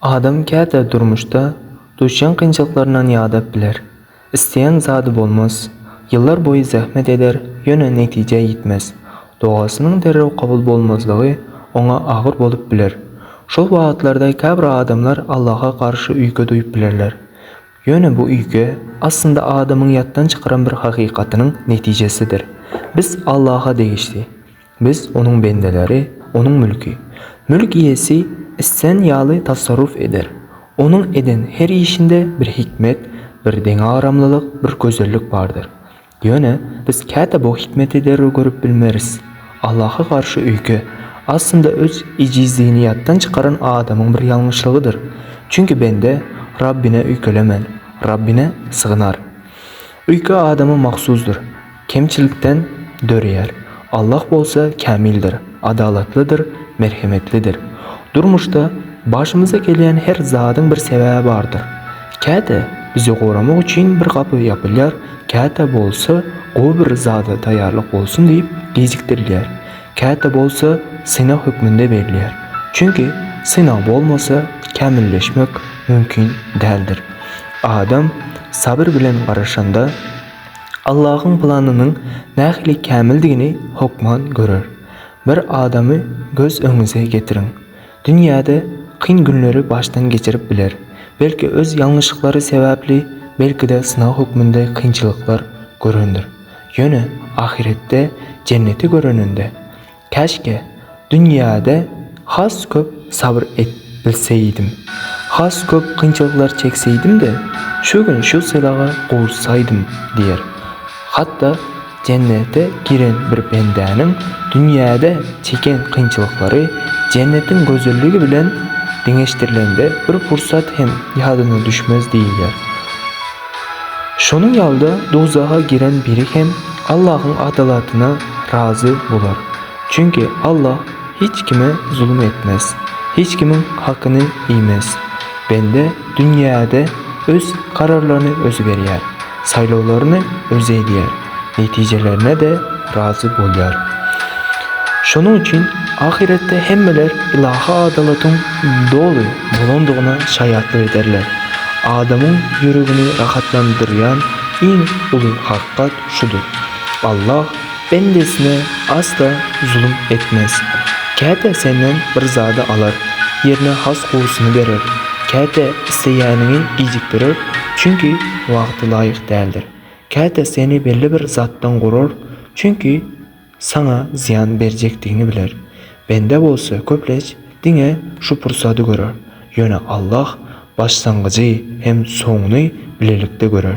Adam käte durmuşda duşýan kynçylyklaryndan ýadap biler. Isleýän zady bolmaz. Ýyllar boýy zähmet eder, ýöne netijä ýetmez. Dogasynyň derrew kabul bolmazlygy oňa agyr bolup biler. Şol wagtlarda käbir adamlar Allaha garşy üýke duýup bilerler. Ýöne bu üýke, aslynda adamyň ýatdan çykaran bir hakykatynyň netijesidir. Biz Allaha degişli. Biz Onuň bendeleri, Onuň mülki. Mülk iýesi islän ýaly tasarruf eder. Onuň eden her işinde bir hikmet, bir deňagramlylyk, bir gözellik bardyr. Ýöne biz käte bu hikmeti derrew görüp bilmeris. Allaha garşy öýke, aslynda öz ejizligini ýatdan çykaran adamyň bir ýalňyşlygydyr. Çünki bende Rabbine öýkelemän, Rabbine sygynar. Uýky adama mahsusdyr, kemçilikden döreýär. Allah bolsa kämildir, adalatlydyr, merhemetlidir. Durmuşda başymyza gelýän her zadyň bir sebäbi bardyr. Käte bizi goramak üçin bir gapy ýapylýar, käte bolsa gowy bir zada taýýarlyk bolsun diýip gijikdirilýär. Käte bolsa synag hökmünde berilýär. Çünki synag bolmasa kämilleşmek mümkin däldir. Adam sabyr bilen garaşanda Allahyň planynyň nähili kämildigini hökman görer. Bir adamy göz öňüňize getiriň. Dünýäde kyn günleri başdan geçirip biler. Belki öz ýalňyşlyklary sebäpli, belki-de synag hökmünde kynçylyklar görendir. Ýöne ahyretde Jenneti göreninde, Käşgä, dünýäde has köp sabyr edip bilseýdim. Has köp kynçylyklar çekseýdim-de, şu gün şu sylaga gowuşsaýdym diýer. Hatda. Jennete giren bir bendäniň dünýäde çeken kynçylyklary jennetiň gözelligi bilen deňeşdirilende bir pursat hem ýadyna düşmez diýilýär. Şonuň ýaly-da dowzaha giren biri hem Allahyň adalatyna razy bolar. Çünki Allah hiç kime zulum etmez, hiç kimiň hakyny iýmez. Bende Dünýäde öz kararlaryny özi berýär, saýlawlaryny özi edýär, netijelerine-de razy bolýar. Şonuň üçin ahyretde hemmeler ylahy adalatyň doly bolandygyna şaýatlyk ederler. Adamyň ýüregini rahatlandyrýan iň uly hakykat şudur, Allah bendesine asla zulum etmez. Käte senden bir zady alar, ýerine has gowusyny berer. Käte isleýäniňi gijikdirer, çünki wagty laýyk däldir. Käte seni belli bir zatdan gorar, çünki saňa zyýan berjekdigini biler. Bende bolsa köplenç diňe şu pursady görer. Ýöne Allah başlangyjy hem soňuny bilelikde görer.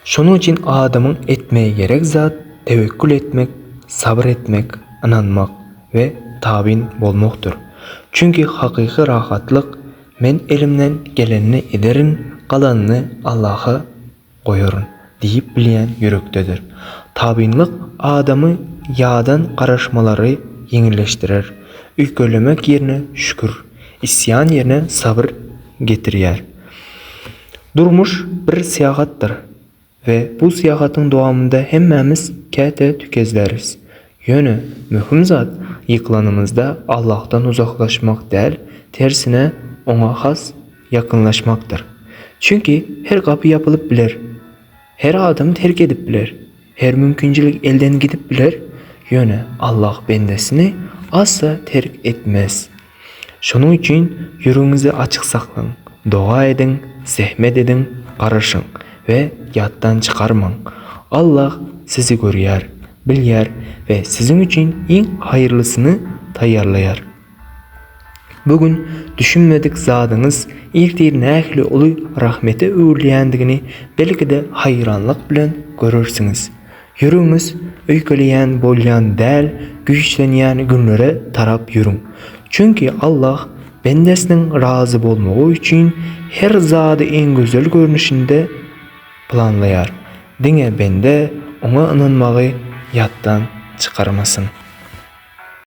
Şonuň üçin adamyň etmegi gerek zat tewekgül etmek, sabyr etmek, ynanmak we tabyn bolmakdyr. Çünki hakyky rahatlyk, Men elimden gelenini ederin, galanyny Allaha goýaryn diýip bilýän ýürekdedir. Tabynlyk adamy ýadan garaşmalary ýeňilleşdirer, öýkelemek ýerine şükür, isýan ýerine sabyr getirýär. Durmuş bir syýahatdyr we bu syýahatyň dowamynda hemmämiz käte tükezläris. Ýöne möhüm zat ýykylanymyzda Allahdan uzaklaşmak däl, tersine Oňa has ýakynlaşmakdyr. Çünki her gapy ýapylyp biler. Her adam terk edip biler, her mümkinçilik elden gidip biler, ýöne Allah bendesini asla terk etmez. Şonuň üçin ýüregiňizi açyk saklaň, doga ediň, zähmet ediň, garaşyň we ýatdan çykarmaň. Allah sizi görýär, bilýär we siziň üçin iň haýyrlysyny taýýarlaýar. Bu gün düşünmedik zadyňyz ertir nähili uly rahmete öwrülýändigini belki-de haýranlyk bilen görersiňiz. Ýüregiňiz öýkeleýän bolýan däl güýçlenýän günlere tarap ýörüň. Çünki Allah bendesiniň razy bolmagy üçin her zady iň gözel görnüşinde planlaýar. Diňe bende oňa ynanmagy ýatdan çykarmasyn.